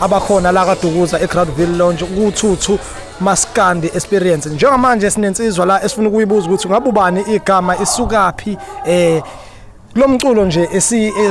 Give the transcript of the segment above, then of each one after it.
abakhona la kaDukuza eGroundville Lounge kuthuthu maskandi experience njengamanje sinensizwa la esifuna ukuyibuza ukuthi ngabe ubani igama isukaphi eh lomculo nje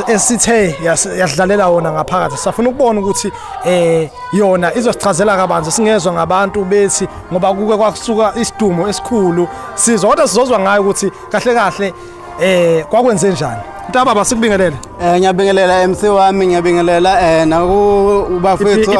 esithe yasidlalela wona ngaphakathi safuna ukubona ukuthi eh yona izosichazela kabanzi singezwe ngabantu bethi ngoba kuke kwasuka isidumo esikhulu sizwa kodwa sizozwa ngayo ukuthi kahle kahle Eh kwakwenze njani? Ntababa sikubingelele. Eh ngiyabingelela MC wami ngiyabingelela eh naku ubafethu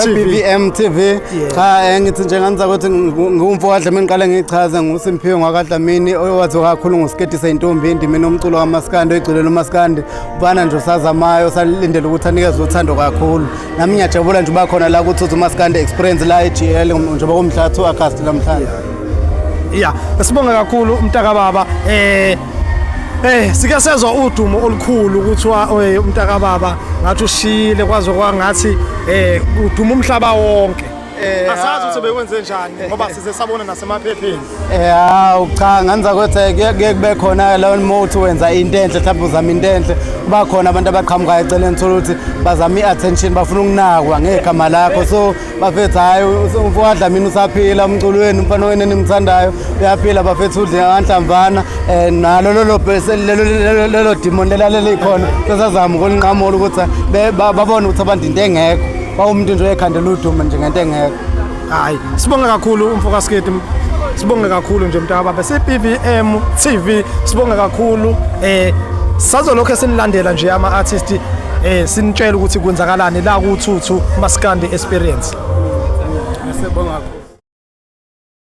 BVM TV. Cha eh, ngithi nje nganza ukuthi ngumfo kaDlamini ngiqale ngichaze nguSimphiwe ngwakaDlamini owathi kakhulu ngosiketi seintombi indimi nomculo kamaskandi oyigcilelo umaskandi ubana nje usazamayo salindele ukuthi anikezwe uthando kakhulu. Nami ngiyajabula nje uba khona la kuthi umaskandi experience la eGL njengoba kumhla 2 August namhlanje. ya sibonge kakhulu umntaka baba eh Eh sike sezwa udumo olukhulu kuthiwa eh, umntaka baba ngathi ushile kwaze kwangathi eh uduma umhlaba wonke Eh, asazi ukuthi bekwenze njani eh, ngoba eh. size sabona nasemaphepheni eh hawu cha nganza ukuthi kuye kube khona lawo mothi wenza into enhle mhlawumbe uzama into enhle kuba khona abantu abaqhamukayo eceleni thola ukuthi bazama i-attention bafuna ukunakwa ngegama lakho so bafethu hhayi umfowadla mina usaphila umculo wenu umfana wenu enimthandayo uyaphila bafethu udle nganhlamvana um eh, nalo lelo dimoni lelalelikhona sesazama ukulinqamula ukuthi babone ukuthi abantu into engekho bawumuntu nje oyekhandela udumo nje ngento engekho hhayi sibonge kakhulu umfokasketi sibonge kakhulu nje mntaka baba se-pvm tv sibonge kakhulu um eh, sazolokhu esinilandela nje ama-artisti Eh sinitshela ukuthi kwenzakalani la ku Thuthu Maskandi Experience. Siyabonga.